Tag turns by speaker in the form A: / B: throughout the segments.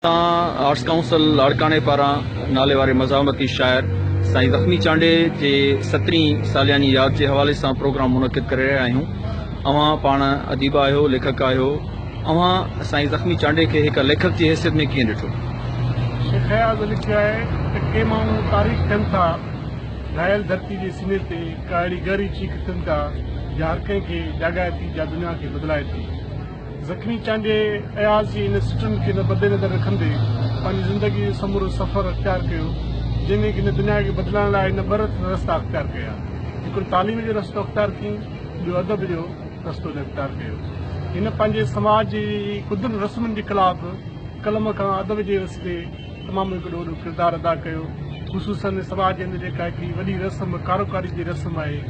A: تان arts council لاڙڪاڻي پاران ناليواري مزاحمتي شاعر سائين زخمي چانڊئي جي سترهين سالياني ياد جي حوالي سان پروگرام منعقد ڪري رهيا آهيون اوهان پاڻ اديب آهيو ليکڪ آهيو اوهان سائين زخمي چانڊئي کي هڪ ليکڪ جي حيثيت ۾ ڪيئن ڏٺو شيخ
B: اياز لکيو آهي ته ڪي ماڻهو تاريخ ٿين ٿا گهايل ڌرتي جي سني تي هڪ اهڙي گهري چيخ اٿن ٿا جا هر ڪنهن کي جاڳائي ٿي جا دنيا کي بدلائي ٿي زخمي چانڊيي اياز جي ان سٽن کي نه بدي نظر رکندي پنهنجي زندگي جو سمورو سفر اختيار ڪيو جنهن ۾ هن دنيا کي بدلائڻ لاء هن ٻه رستا اختيار ڪيا هڪڙو تعليم جو رستو اختيار ڪيئن ٻيو ادب جو رستو هن اختيار ڪيو هن پنهنجي سماج جي ڪڌن رسمن جي خلاف قلم کان ادب جي رستي تمام هڪ ڏوڏو ڪردار ادا ڪيو خصوصن سماج جي اندر جيڪا هڪڙي وڏي رسم ڪاروڪاري جي رسم آهي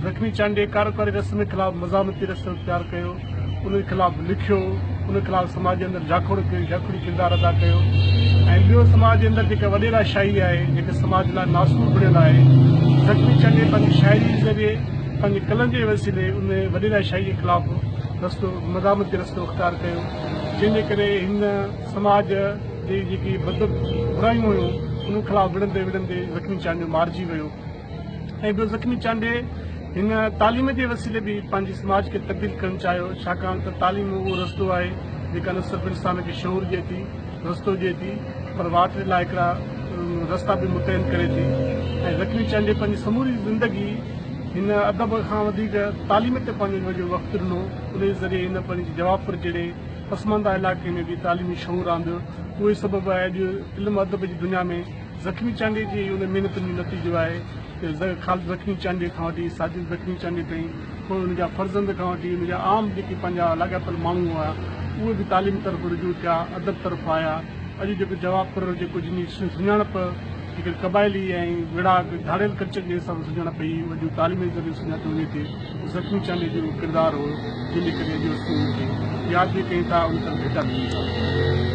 B: لکمي چانڊيي ڪاروڪاري رسم جي خلاف مزاحمتي رسم اختيار ڪيو ان جي خلاف لکيو ان خلاف سماج جي اندر جاکوڙ ڪيو جاکوڙي ڪردار ادا ڪيو ۽ ٻيو سماج جي اندر جيڪا وڏيرا شاعري آهي جيڪا سماج لاء ناسور بڻيل آهي لکمي چانڊيي پنهنجي شاعري جي ذريعي پنهنجي قلم جي وسيلي ان وڏيرا شاعري جي خلاف رستو مزاحمتي رستو اختيار ڪيو جنهن جي ڪري هن سماج جي جيڪي بد برايون هيون انهن خلاف وڙهندي وڙهندي زخمي چانڊيو مارجي ويو ۽ ٻيو زخمي چانڊي هن تعليم جي وسيلي به پنهنجي سماج کي تبديل ڪرڻ چاهيو ڇاڪاڻ ته تعليم اهو رستو آهي جيڪا نه صرف انسان کي شعور ڏي ٿي رستو ڏي ٿي پر واٽ جي لاء هڪڙا رستا به متعين ڪري ٿي ۽ زخمي چانڊي پنهنجي سموري زندگي هن ادب کان وڌيڪ تعليم تي پنهنجو وقت ڏنو ان ذريعي هن پنهنجي جواب پر جهڙي پسمانده علائقي ۾ به تعليمي شعور آندو، اهو ئي سبب آهي اڄ علم ادب جي دنيا ۾ زخمي چانڊيي جي ان محنتن جو نتيجو آهي ته خالد زخمي چانڊيي کان وٺي ساجد زخمي چانڊيي تائين پوء ان جا فرزند کان وٺي ان جا عام جيڪي پنهنجا لاڳاپيل ماڻهو هئا اهي به تعليم طرف رجوع ٿيا ادب طرف آيا اڄ جيڪو جوابپور جيڪو جن جي سڃاڻپ هڪڙي قبائلي ۽ وڙهاڪ ڌاڙيل ڪلچر جي حساب سان سڃاڻپ پئي اهو اڄ تعليم جي ذريعي سڃاتو وڃي ٿي. زخمي چانڊيو جو ڪردار هو جنهن ڪري اڄ اسڪول جي ياد به ڪيون ٿا ۽ اتن ڀيٽا به ڏيون ٿا.